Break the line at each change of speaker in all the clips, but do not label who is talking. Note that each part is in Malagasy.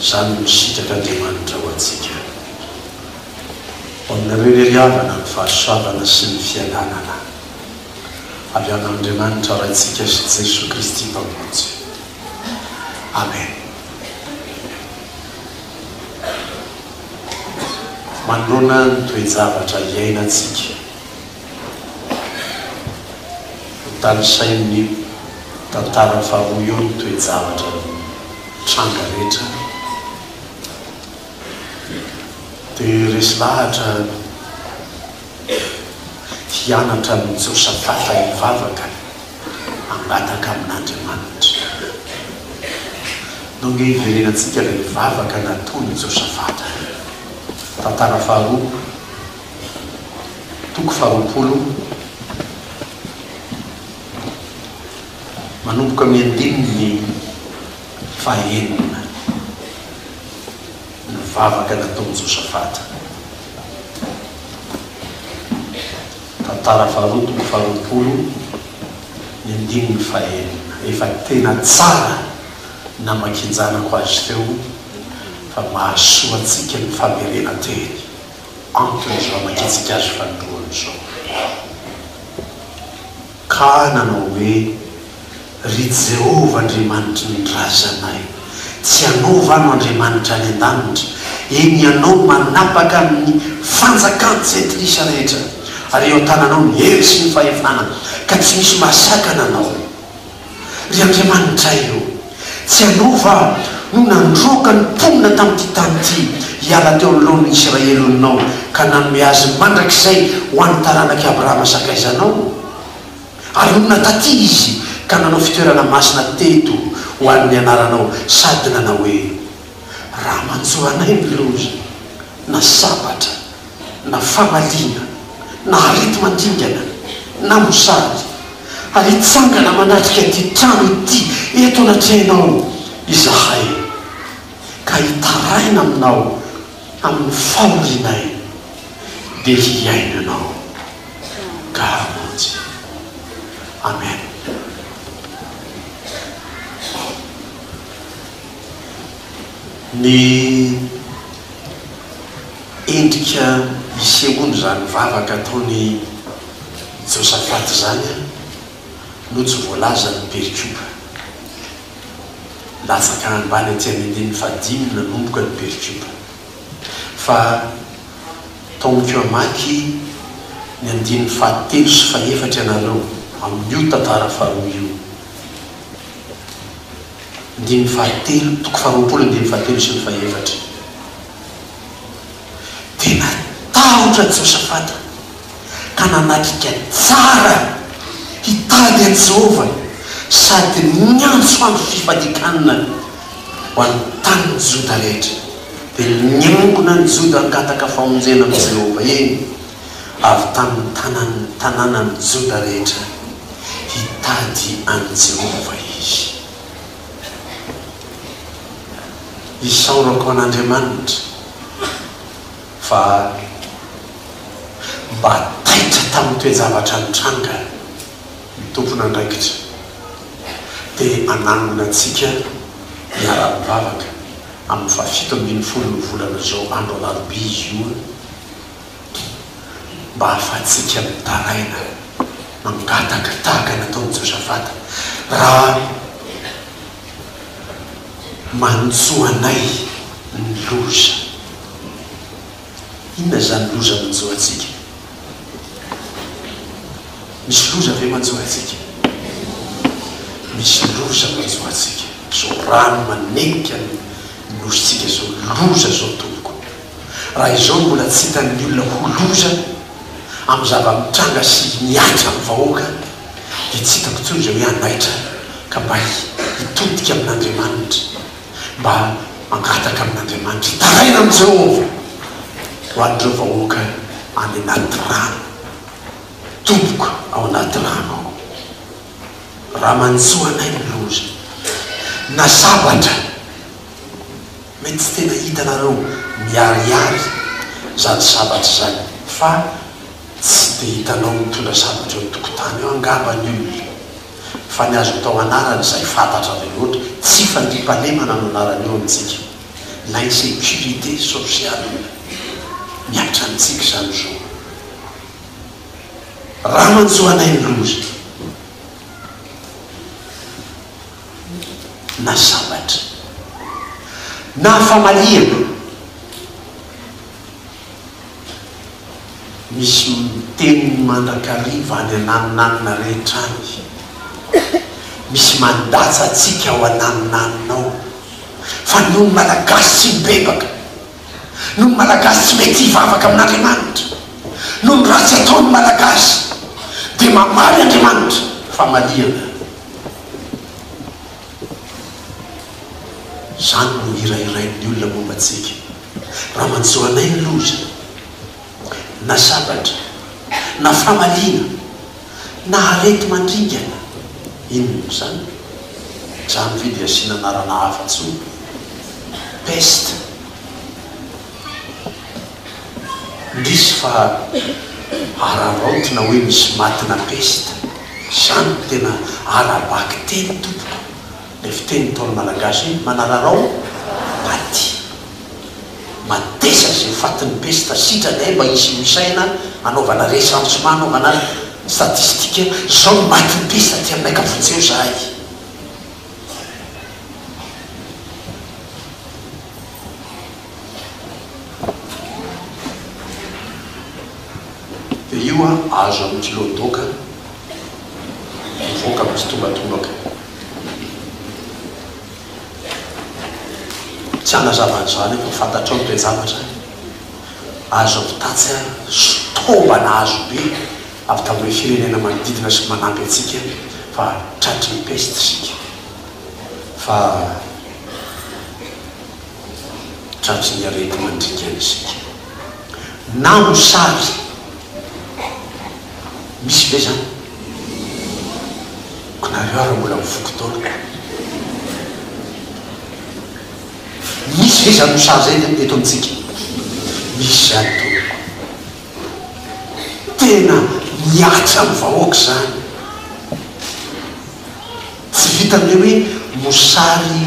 Izany no sitrak'Andriamanitra ho antsika. Ho aminareo irery havana ny fahasoavana sy ny fiadanana avy amin'Andriamanitra Raintsika sy Jesoa Kristy Mpamonjy. Amen. Manoloana ny toe-javatra iainantsika. Hotanisain'ny tantara faharoa eo ny toe-javatra nitranga rehetra. Dia resy lahatra ity anatra an'i Josafata hivavaka hangataka amin'Andriamanitra. Nao nge hiverenantsika ilay vavaka nataon'i Josafata. Tantara faharoa. Toko faharoapolo, manomboka amin'ny andininy fahaenina, ny vavaka nataon'i Josafata. Tantara faharoa, toko faharoapolo, ny andininy fahaenina. Efa tena tsara namakianjanako azy teo fa mahasoa antsika ny famerenan-teny. amiko izao mahitsika azy fanoloana izao. Ka nanao hoe, Ry Jehovah Andriamanitry ny razanay, tsy ianao va no Andriamanitra any an-danitra? Eny, ianao no manapaka ny fanjakan-tsentilisa rehetra, ary eo an-tananao ny hery sy ny fahefana, ka tsy misy mahasakana anao. Ry Andriamanitray ô, tsy Ianao va no nandroaka ny mponina tamin'ity tany ity hiala teo anoloan'ny Isiraely oninao ka nanome azy mandrakizay ho an'ny taranak'i Abrahama sakaizanao? Ary nonina taty izy ka nanao fitoerana masina teto ho an'ny Anaranao sady nanao hoe, Raha manjo anay ny loza na sabatra, na famaliana, na areti-mandingana, na mosary, ary hitsangana manatrika ity trano ity eto anatrehanao izahay, ka hitaraina aminao amin'ny fahorianay, dia hihaino ianao, ka hamonjy. Amen. Ny. Endrika isehoan' izany vavaka ataon' i Josafata izany no tsy voalazan' ny perikopa. Latsaka ambany aty amin' ny andininy fahadimy nanomboka ny perikopa. Fa taomiko hamaky ny andininy fahatelo sy fahefatra ianareo amin' io tantara faharoa io. Andininy fahatelo, toko faharoapolo andininy fahatelo sy ny fahefatra. dia natahotra Josafata ka nanatrika tsara hitady an'i Jehovah sady niantso andro fifandekanana ho an'ny tanin'i Joda rehetra. Dia niangona an'i Joda hangataka famonjena amin'i Jehovah, eny, avy tamin'ny tanàn'ny tanànan'i Joda rehetra, hitady an'i Jehovah izy. Isaorako an'Andriamanitra fa mba taitra tamin'ny toe-javatra nitranga ny tompon'andraikitra dia hanangona antsika hiara-mivavaka amin'ny fahafito ambin'ny folon'ny volana izao andro alarobia io. mba hahafahantsika mitaraina mangataka tahaka ny nataon'i Josafata, Raha manjo anay ny loza. Inona izany loza manjo antsika? Misy loza ve manjo antsika? Misy loza manjo antsika. Izao rano manenika ny nosintsika izao, loza izao, tompoko. Raha izao no mbola tsy hitan'ny olona ho loza amin'ny zava-mitranga sy mihatra amin'ny vahoaka dia tsy hitako intsony izay hoe hanaitra ka mba hitodika amin'Andriamanitra mba hangataka amin'Andriamanitra hitaraina amin'i Jehovah ho an'ireo vahoaka any anaty rano tompoko ao anaty rano ao raha manjo anay ny loza na sabatra Mety tsy tena hitanareo miharihary zany sabatra izany fa tsy dia hitanao mitondra sabatra eo an-tokotany eo angamba ny olona fa ny azo atao anarana izay fantatra be loatra, tsy fandriampahalemana no anarany eo amintsika, l'insécurité sociale mihatra amintsika izany zo. Ramanjoanaindoza. na sabatra na famaliana misy miteny mandrakariva any ananinanina rehetra any misy mandatsa antsika ao ananinanina ao fa noho ny malagasy tsy mibebaka noho ny malagasy tsy mety hivavaka amin'andriamanitra noho ny ratsy ataon'ny malagasy dia mamaly andriamanitra famaliana Izany no hira hirain'ny olona momba antsika. Raha manjo anay ny loza, na sabatra, na famaliana, na areti-mandringana, inona moa izany? Izany ve dia asiana anarana hafa intsony? Peste. Indrisy fa araraotina hoe misy maty na pesta. Izany no tena ara-bakiteny tompoko. Ilay fiteny ntaolo malagasy hoe manararao paty. Matesa izay fatin'ny pesta sitrany hay mba hisy ho isaina hanaovana recensement hanaovana statistique izao no matin'ny pesta aty aminay ka vonjeo zahay. Dia io an, azo amin'ny kilo doka, mivoaka mitsitombatombaka. Tsy hanazava an'izany aho fa fantatrao ny toe-javatra. Azo avy tatsy an, sotombana azo be avy tamin'ireo firenena manodidina sy manampy antsika fa tratry ny peste isika. Fa. tratry ny areti-mandriaka isika. Na mosary misy ve izany? Koa nareo ary mbola mivoky taona. Misy ve izany mosary izay eto amintsika? Misy izany tompoko. Tena mihatra amin'ny vahoaka izany. Tsy vitan'ny hoe hoe mosary i.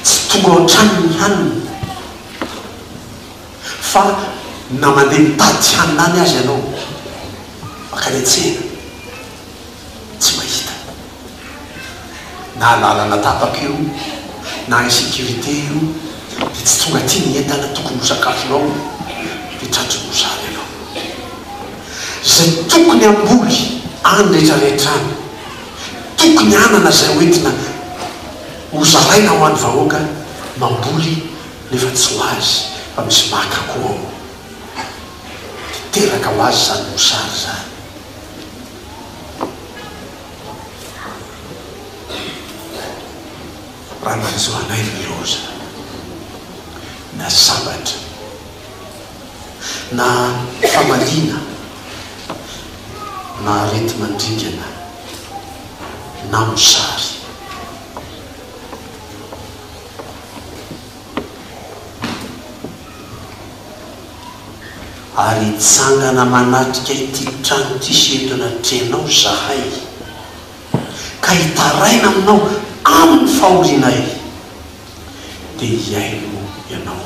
Tsy tonga ao an-trano ny hanina fa na mandeha mitady hanina any aza ianao mankany an-tsena tsy mahita. Na lalana tapaka io na insécurité io dia tsy tonga aty ny entana tokony ho sakafonao dia tratry ny mosary ianao. Izay tokony hamboly any rehetra rehetra any tokony hanana izay ho entina ho zaraina ho an'ny vahoaka mamboly nefa tsy ho azy fa misy maka koa ao dia teraka ho azy izany mosary izany. Raha nanjo anay ny loza na sabatra. na famaliana na areti-mandringana na mosary. Ary hitsangana manatrika ity trano ity sy eto anatrehanao izahay, ka hitaraina aminao amin'ny fahorianay, dia hihaino ianao.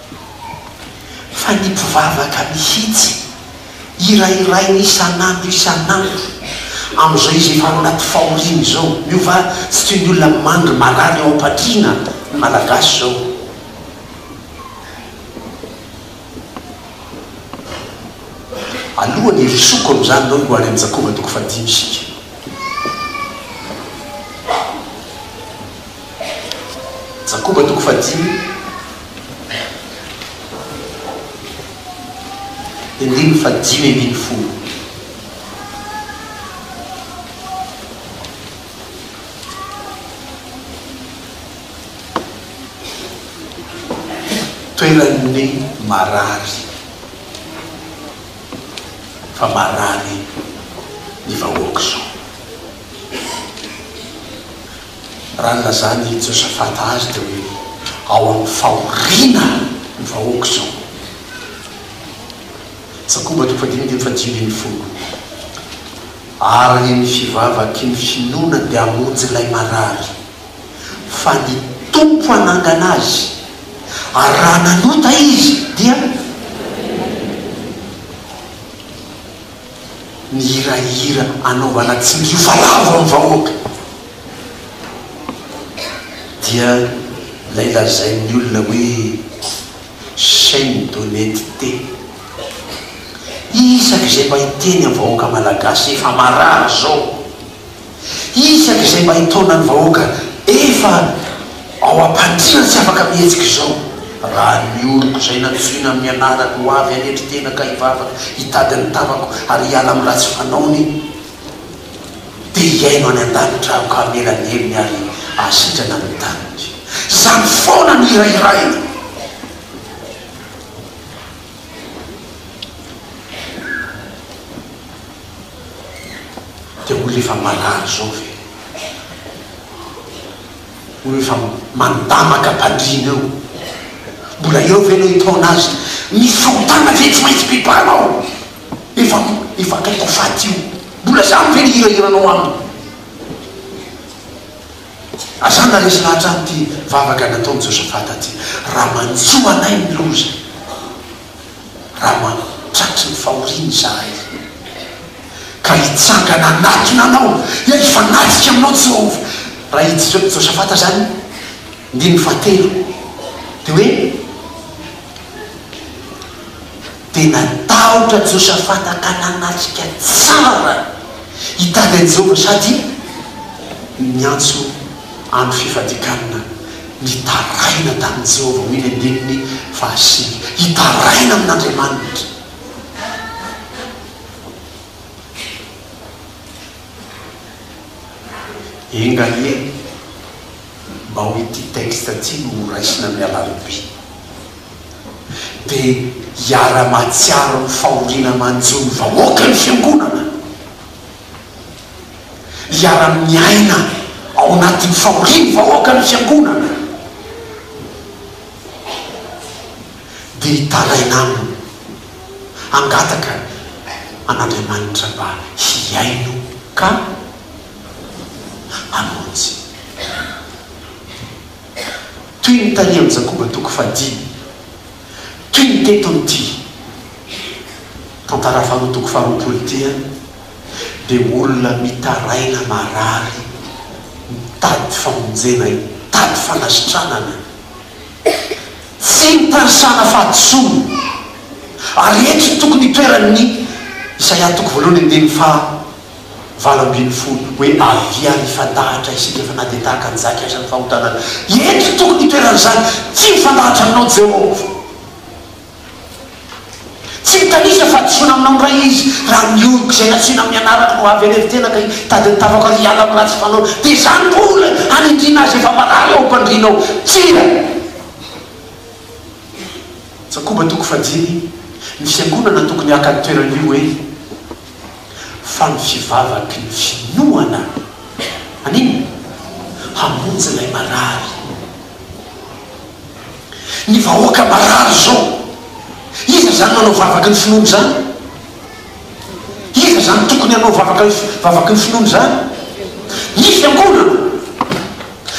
fa ny mpivavaka mihitsy, hirahirainy isan'andro isan'andro, amin'izao izy efa ao anaty fahoriana izao, miova tsy toy ny olona mandry marary eo am-patriana ny Malagasy izao. Alohan'ny hirosoako amin'izany nao hihoany an'i Jakoba toko fahadimy isika. Jakoba toko fahadimy dia andininy fahadimy ambin'ny folo. Toeran'ny marary, fa marary ny vahoaka izao. Raha nilazan' i Josafata azy dia hoe, Ao amin' ny fahoriana ny vahoaka izao. Jakoba toko fahadimy andininy faha dimy ambin'ny folo Ary ny ny fivavaky ny finoana dia hamonjy ilay marary, fa ny Tompo hanangana azy, ary raha nanota izy dia. ny hirahira anaovana tsinjofa lavo amin'ny vahoaka dia ilay lazain'ny olona hoe chaine d'honnetete isaky izay mba hiteny amin'ny vahoaka malagasy efa marary izao Isaka izay mahay taona ny vahoaka efa ao am-pandriana tsy afaka mihetsika izao raha ny oloko izay nantsoina amin'ny anarany ho avy hanetry tena ka hivavaka hitady ny tavako ary hiala amin'ny ratsy fanaony dia hihaino any an-danitra aho ka hamela ny helony ary hahasitrana ny taniko. Izany foana no hirahiraina. Dia olona efa marary izao ve? Olona efa mandamaka am-pandriana eo, mbola eo ve ilay hitaona azy? Misy fahotana ve tsy maintsy pipanao? Efa, efa akaiky ho faty io. Mbola izany ve ny hirahiranao aminy? Aza naharesy lahatra an'ity vavaka nataon'i Josafata ity. Raha manjo anay ny loza, raha mampitratry ny fahoriana izahay, ka hitsangana hanatona anao, dia hifanatrika aminao Jehovah. Raha i Josafata izany, andininy fahatelo, dia hoe. dia natahotra Josafata ka nanatrika tsara hitady an'i Jehovah sady niantso andro fifadikanana nitaraina tamin'i Jehovah, Mily andininy fahasivy. Hitaraina amin'Andriamanitra. Enga anie mba ho ity texte ity no horaisina amin'ny alarobia. dia hiara-mahatsiaro ny fahoriana manjo ny vahoaka ny Fiangonana. Hiara-miaina ao anatin'ny fahoriany ny vahoaka ny Fiangonana. Dia hitaraina aminy hangataka an'Andriamanitra mba hihaino ka hamonjy. toy ny tany amin'i Jakoba toko fahadimy, toy ny teto amin'ity tantara faharoa toko faharoapolo ity ihany, dia olona mitaraina marary mitady famonjena hitady fanasitranana, tsy mitanisana fahadisoana, ary eto no tokony hitoeran'ny Isaia toko voalohany andininy faha. valo ambin'ny folo, hoe, Avia ary hifandahatra isika fa na dia tahaka ny zaka aza ny fahotanana. Eto tokony hitoeran'izany, Tsy mifandahatra aminao Jehovah. Tsy mitanisa fahadisoana aminao indray izy raha ny oroko izay nasiana amin'ny anarako no avy any iveltena ka hitady ny tavako ary hiala amin'ny ratsy fanaony. Dia izany mbola hanindriana azy efa marary ao am-pandriana ao. Tsia. Jakoba toko fahadimy, Ny fiangonana tokony haka ny toerany io hoe, fa ny fivavaky ny finoana an'inona? hamonjy ilay marary. Ny vahoaka marary izao, iza izany manao vavaky ny finoana izany? Iza izany tokony hanao vavaky ny finoana izany? Ny fiangonana.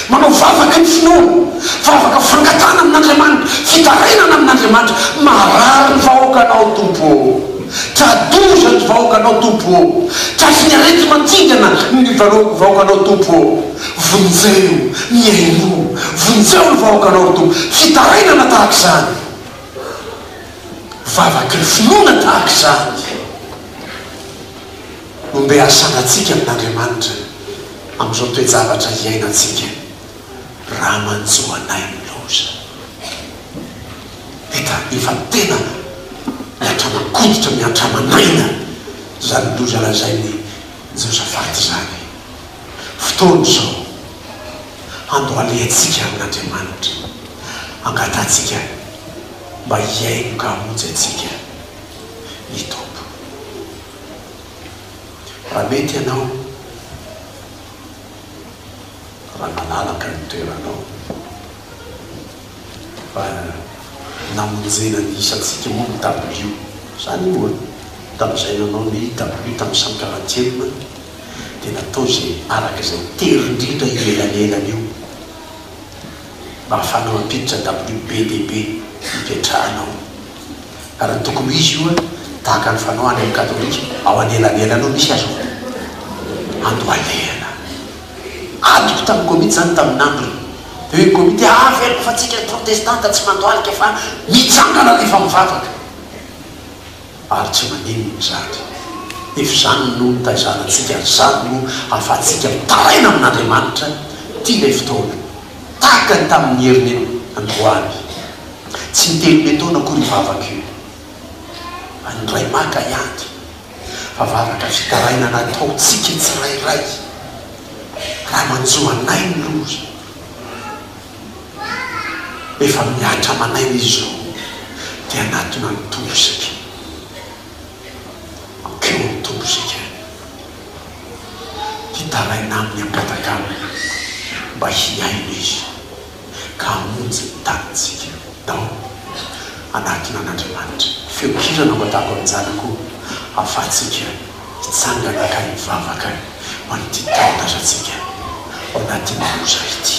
Manao vavaka ny finoana, vavaka fangatahana amin'Andriamanitra, fitarainana amin'Andriamanitra, marary ny vahoakanao Tompo ô! tra-doza ny vahoakanao Tompo ô! tratriny areti-mantsingana ny vahoakanao Tompo ô! vonjeo ny ainao, vonjeo ny vahoakanao ry Tompo, fitarainana tahaka izany, vavaky ny finoana tahaka izany. Nombeasanantsika amin'Andriamanitra amin'izao toe-javatra iainantsika raha manjo anay ny loza. Hita efa tena miantra-mankoditra, miantra-manaina izany loza lazain'i Josafata izany. Fotoana izao handohalehantsika amin'Andriamanitra, angatahantsika mba hihaino ka hamonjy antsika ny Tompo. Raha mety ianao, raha malalaka ny toeranao, fa namonjena ny isantsika moa ny dabilio. Izany moa an, tamin'izay nanao ny dabilio tamin'ny cent quarantième dia natao izay araka izay tery indrindra io elanelana io mba hahafahana mampiditra dabilio be dia be hipetrahanao. Ary ny tokony ho izy io an, tahaka ny fanao any amin'ny katolika, ao anelanelany ao misy aza hoe ando alehana. Adiko tamin'ny komity izany tamin'ny nandro teo iny komity hoe averiko fa tsika protestanta tsy mando alika fa mitsangana rehefa mivavaka. Ary tsy maninona izany. Nefa izany no nitaizana antsika ary izany no ahafahantsika mitaraina amin'Andriamanitra tia ilay fotoana Takany tamin'ny heriny io androany. Tsy nitelome taona akory io vavaka io. An'ny Ray maka hianty. Fa vavaka fitarainana ataontsika tsirairay. Raha manjo anay ny loza. Efa mihatra amanay ny zo. Dia hanatona ny toro isika. Teo ny Tompo isika, hitaraina aminy am-patakarana mba hihaino Izy ka hamonjy ny tanintsika. Dao, anatona an'Andriamanitra. Feon-kira nampatako amin'ny zanako o, ahafahantsika hitsangana ka hivavaka ho an'ity tanindrazantsika ao anatin'ny loza ity.